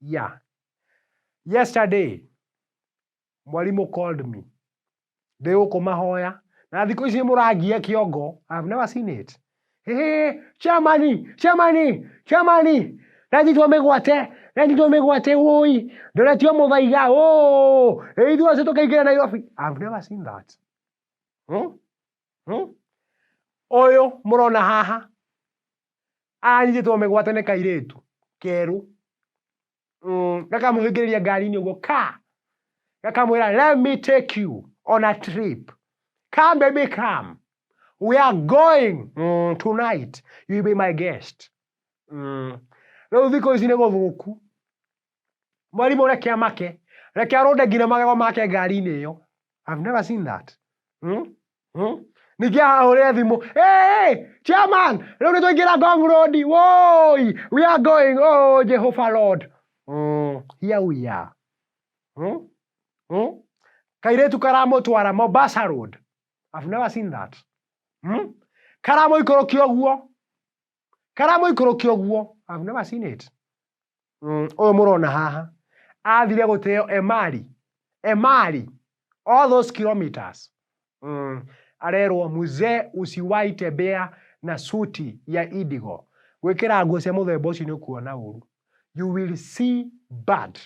Yeah. Yesterday, mwarimũ called me. Ndĩ gũkũ mahoya. Na thikũ ici mũrangia kĩongo. I have never seen it. Hey, chamani, chamani, chamani. Ranyitwo mĩgwate, ranyitwo mĩgwate woi. Ndoretio mũthaiga. Oh, ithuĩ acio tũkaingĩra Nairobi. I have never seen that. Hmm? Hmm? Ũyũ mũrona haha Anyitĩtwo mĩgwate nĩ kairĩtu kerũ mm, gakamũhingĩrĩria ngari-inĩ ũguo ka gakamwĩra let me take you on a trip come baby come we are going mm, tonight you be my guest mm. rĩu thikũ ici nĩ gũthũku Mwarimũ reke amake. Reke arũnde nginya magego make ngari-inĩ ĩyo. I've never seen that. Hmm? Hmm? Ningĩ ahahũrĩre thimũ. Hey, hey, chairman, rĩu nĩ twaingĩra Ngong Road. Woi, we are going. Oh, Jehovah Lord. Mm, here we are. Hmm? Hmm? Kairĩtu karamũtwara Mombasa Road. I've never seen that. Hmm? Karamũikũrũkia ũguo. karamũikũrũkia ũguo I've never seen it Mm, ũyũ mũrona haha athire gũteo emari emari all those kilometers mm. arerwo mzee usiwai tembea na suti ya indigo gwĩkĩra nguo cia mũthemba ũcio nĩ ũkuona ũru you will see bad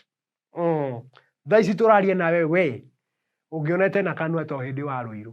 mm. thaa ici tũraria nawe we ũngĩonete na kanua to hĩndĩ wa rũirũ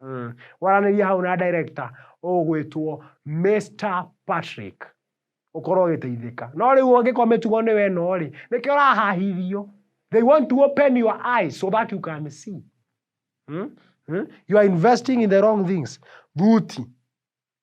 Mm. Waranĩria hau na director ũgwĩtwo Mr. Patrick ũkorwo ũgĩteithĩka no rĩu ũngĩkorwo mĩtugo nĩ weno rĩ nĩkĩo ũrahahithio they want to open your eyes so that you can see hmm? Hmm? you are investing in the wrong things thuti